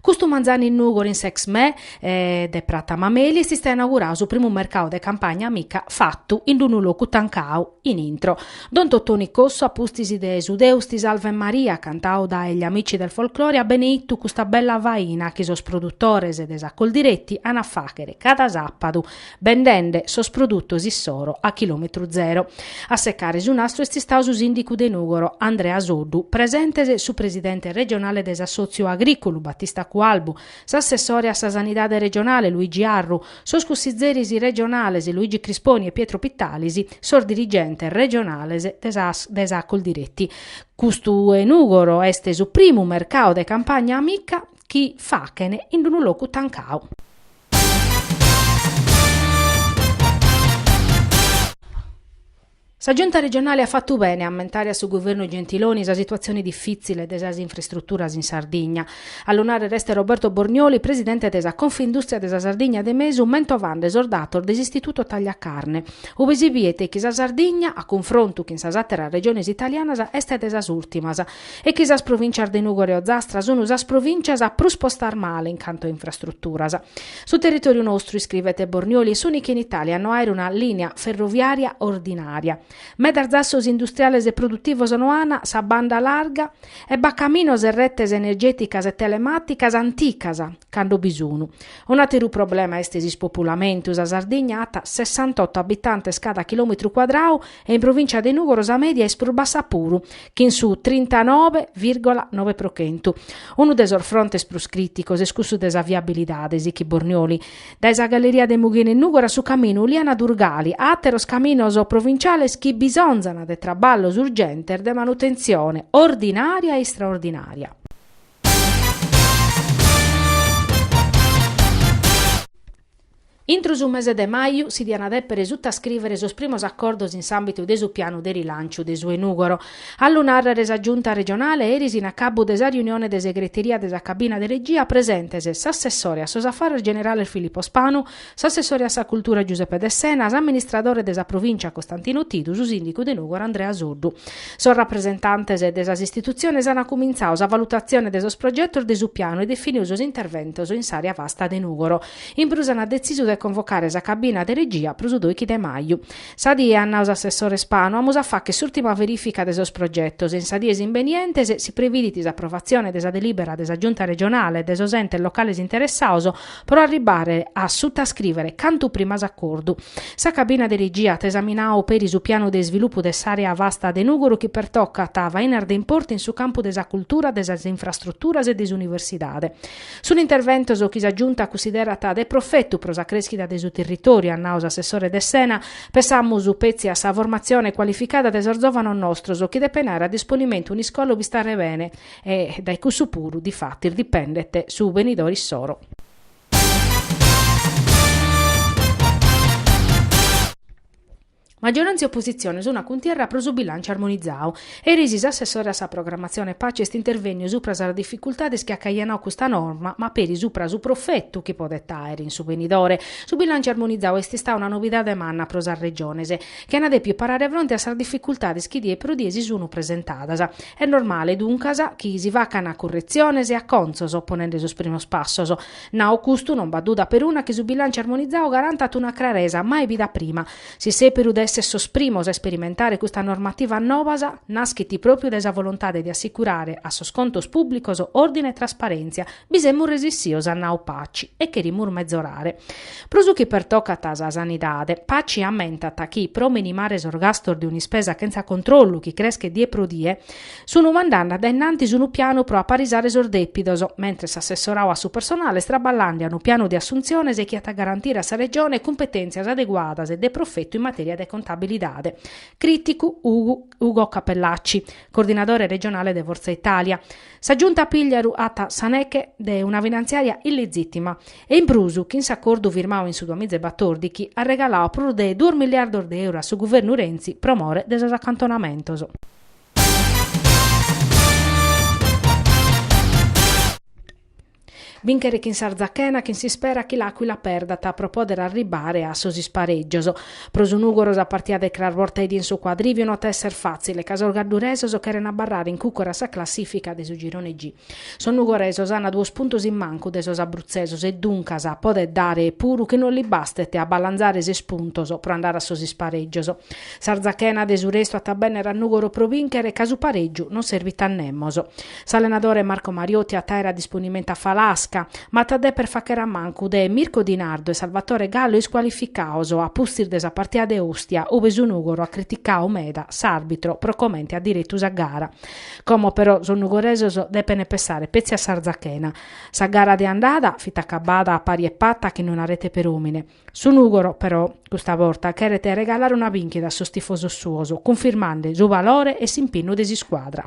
Custu manzanu in Nùgori in s'ExMè de Prata Mameli est istau inaugurau su primu mercau de Campagna Amica fatu in d'unu locu tancau in intro. Don Totoni Cossu a pustis de su Deus ti salvet Maria cantau dae gli Amici del Folklore at beneitu custa bella faina chi sos produtores de sa Coldiretti an a fàghere cada sàpadu bendende sos produtos issoro a chilòmetru zero. A secare su nastru est istau su sìndicu de Nùgoro, Andrea Soddu, presentes su presidente regionale de s'assòtziu agrìculu, Batista Cualbu, s'assessore a sa sanidade regionale, Luigi Arru, sos cussizeris regionales, Luigi Crisponi e Pietro Pittalis, sos dirigentes regionales de sa Coldiretti. Custu 'e Nùgoro est su primu mercadu de Campagna Amica chi fachene in d'unu locu tancau. Sa Giunta regionale at fatu bene a ammentare a su Guvernu Gentiloni sa situatzione difìtzile de sas infrastruturas in Sardigna. A lu nàrrere est Roberto Bornioli, presidente de sa Confindùstria de sa Sardigna de Mesu, mentovande sos datos de s'Istituto Tagliacarne, ube si biet chi sa Sardigna, a cunfrontu chin sas àteras regiones italianas, est de sas ùrtimas. e chi sas provìncias de Nùgoro e Ozastra sunu sas provìncias a prus postas male in cantu a infrastruturas. Su territòriu nostru, iscrivet Bornioli, est s'ùnicu in Itàlia a no àer una lìnia ferroviària ordinària. Medas zassos industriales e produtivos no an sa banda larga e b'at caminos e retes energèticas e telemàticas anticas, cando bi sunu. Un'àteru problema est s'ispopulamentu, sa Sardigna at sessantotto abitantes cada chilòmetru cuadrau, e in provìncia de Nùgoro sa mèdia est prus bassa puru, chin su trintanove virgola nove pro chentu. Unu de sos frontes prus crìticos est cussu de sa viabilidade, sichit Bornioli. Dae sa galleria de Mughina in Nùgoro a su caminu Uliana-Durgali, a àteros caminos provintziales chi bisonzan de traballos urgentes de manutentzione ordinària e istraordinària. Intro su mese de maju si diana depere sutaiscrivere sos primos accordos in s'ambitu de su pianu de rilanciu de su 'e Nugoro. A lu narrere sa Giunta regionale eris in acabbu de sa riunione de segreteria de sa cabina de regia presentes s'assessore a sos affares generales Filippo Spanu, s'assessore a sa cultura Giuseppe Dessena, s'amministradore de sa provincia Costantino Tidu, su sindicu de Nugoro Andrea Soddu. Sos rapresentantes de sas istituziones ana cumintzau sa valutazione de sos progettos de su pianu e definiu sos interventos in s'area vasta de Nugoro. In prus ant detzisu de convocare sa cabina de regia pro su doichi de maju. Sa die, at nau s'assessore Spanu, amus a fagher s'ùrtima verifica de sos progetos e in sas dies imbenientes si previdit s'aprovatzione de sa delibera de sa Giunta regionale e de sos entes locales interessados pro arribare a sutascrivere cantu prima s'acordu. Sa cabina de regia at esaminadu peri su pianu de isvilupu de s'àrea vasta de Nùgoro chi pertocat fainas de importu in su campu de sa cultura, de sas infrastruturas e de s'universidade. Sunt interventos chi sa Giunta cussiderat de profetu pro sa crèschida de su tirritòriu, at nau s'assessore Dessena. Pessamus petzi a sa formatzione cualificada de sos zòvanos nostros chi depent àere a disponimentu un'iscola ue istare bene e dae cussu puru difatis dipendet su benidore issoro. Maggiorantzia e oppositzione sun a cuntierra pro su bilànciu armonizadu. Eris s'assessore a sa programmatzione Paci est intervènniu supra sas dificultades chi at caianau custa norma ma peri supra su profetu chi podet àere in su benidore. Su bilànciu armonizadu est istada una novidade manna pro sas Regiones chi an dèpiu parare fronte a sas dificultades chi die pro die si sun presentadas. Est normale, duncas, chi si facana curretziones e acontzos ponende sos primos passos. Nau custu, non b'at duda peruna chi su bilànciu armonizau garantat una craresa mai bida prima. Su sèberu de èssere sos primos a isperimentare custas normativas nobas, naschit pròpiu dae sa volontade de assicurare a sos contos pùblicos òrdine e trasparèntzia, bi semus resissios at nau Paci e cherimus mezorare. Pro su chi pertocat sa sanidade, Paci ammentat chi pro minimare sos gastos de un'ispesa chentza controllu chi creschet die pro die, Sun mandande a dae innantis unu pianu pro aparisare sos dèpidos, mentres s'assessoradu a su personale est traballande a unu pianu de assuntziones chi at a garantire a sa Regione cumpetèntzias adeguadas e de profetu in matèria de contabilidade. Crìticu Ugo Cappellacci, coordinadore regionale de Forza Italia. Sa Giunta Pigliaru at sa neche de una finantziària illizìtima e in prus chin s'acordu firmadu in su duamiza e batordighi at regaladu prus de duos miliardos de euro a su guvernu Renzi pro more de sos acantonamentos. Bìnchere chin s'Arzachena chin s'ispera chi l'Àquila perdat pro pòdere arribbare a sos isparègios. Pro su Nùgoro sa partida de cras bortadie in su Quadrivio no at a èssere fàtzile ca sos gadduresos cheren abarrare in cùcuru a sa classìfica de su girone G. Sos nugoresos an duos puntos in mancu de sos abrutzesos e duncas podet dare puru chi no li bastet a balanzare ses puntos pro andare a sos isparègios. S'Arzachena de su restu at a benner a Nùgoro pro bìnchere ca su parègiu non servit a nemos. S'allenadore Marco Mariotti at a àere a disponimentu a Falasca, ma at a deper facher a mancu de Mirko Di Nardo e Salvatore Gallo iscualificados a pustis de sa partida de Ostia ue su Nùgoro at criticadu meda s'àrbitro pro comente at diretu sa gara. Como però sos nugoresos depent pensare petzi a s'Arzachena. Sa gara de andada fit acabada a pari e pata chin una rete per òmine. Su Nùgoro, però, custa borta cheret regalare una bìnchida a sos tifosos suos, cunfirmande su valore e s'impinnu de s'iscuadra.